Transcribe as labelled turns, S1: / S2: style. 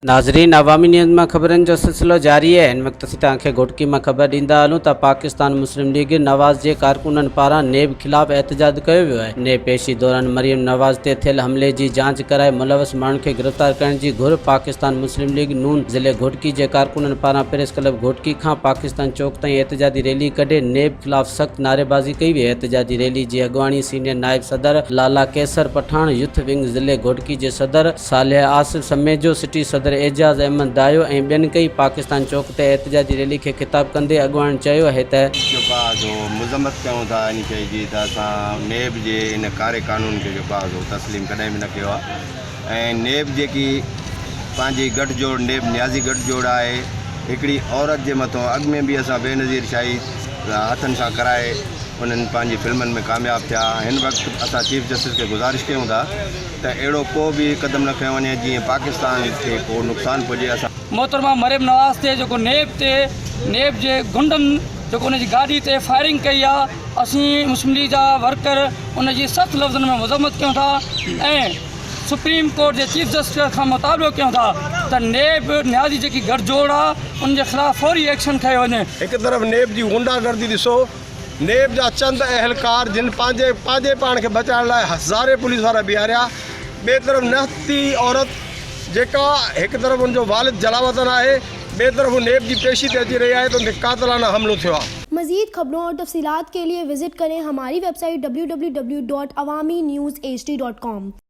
S1: ناظرين عوامي نيوز مان خبرن جو سلسلو جاري آهي ان وقت اسين توهان کي گهوٽڪي مان خبر ڏيندا هلون ته پاڪستان مسلم ليگ نواز جي ڪارڪنن پاران نيب خلاف احتجاج ڪيو ويو آهي نيب پيشي دوران مريم نواز تي ٿيل حملي جي جاچ ڪرائي ملوث ماڻهن کي گرفتار ڪرڻ جي گهر پاڪستان مسلم ليگ نون ضلعي گهوٽڪي جي ڪارڪنن پاران پريس ڪلب گهوٽڪي کان پاڪستان چوڪ تائين احتجاجي ريلي ڪڍي نيب خلاف سخت نعريبازي ڪئي وئي احتجاجي ريلي جي اڳواڻي سينيئر نائب صدر لالا قيصر پٺاڻ يوٿ ونگ ضلعي گهوٽڪي جي صدر صالح آصف سميجو سٽي صدر اعجاز احمد دايو ۽ ٻين ڪئي پاڪستان چوڪ تي احتجاجي ريلي کي خطاب ڪندي اڳواڻ چيو اهي ته جيڪو آزو مذمت
S2: ڪيون ٿا ان شئي جي ته اسان نيب جي ان ڪاري قانون کي جيڪو آزو تسليم ڪڏهن به نه ڪيو آهي. ۽ نيب جيڪي پنهنجي گٺ جوڙ نيب نيازي گٺ جوڙ آهي هڪڙي عورت جي مٿو اڳ ۾ به اسان بينظير شاهي هٿن سان ڪرائي انهن پنهنجي فلمن ۾ ڪامياب ٿيا هن وقت اسان چيف جسٽس کي گذارش ڪيون ٿا ته اهڙو ڪو به قدم نه کنيو وڃي جيئن پاڪستان کي ڪو نقصان پهجي اسان محترمه مريم نواز
S3: تي جيڪو نيب تي نيب جي غنڊن جيڪو ان جي گاڏي تي فائرنگ ڪئي آ اسين مسلم ليگ جا ورڪر ان جي سخت لفظن ۾ مذمت ڪيون ٿا ۽ سپريم ڪورٽ جي چيف جسٽس کان مطالبو ڪيون ٿا ته نيب نيازي جيڪي گهر جوڙ آ ان جي خلاف فوري ايڪشن کنيو وڃي. هڪ طرف نيب جي
S4: غنڊا گردي ڏسو، نيب جا چند اهلڪار جن پنهنجي پنهنجي پاڻ کي بچائڻ لاء هزارين پوليس وارا بيهاريا، ٻئي طرف نهتي عورت جيڪا هڪ طرف ان جو والد جلاوطن آهي ٻئي طرف نيب جي پيشي تي اچي رهي آهي ته ان تي قاتلانه حملو ٿيو آهي. مزيد خبرون اور
S5: تفصيلات کے ليے وزٽ ڪرين ھماري ويب سائيٽ www.awaminews hd.com.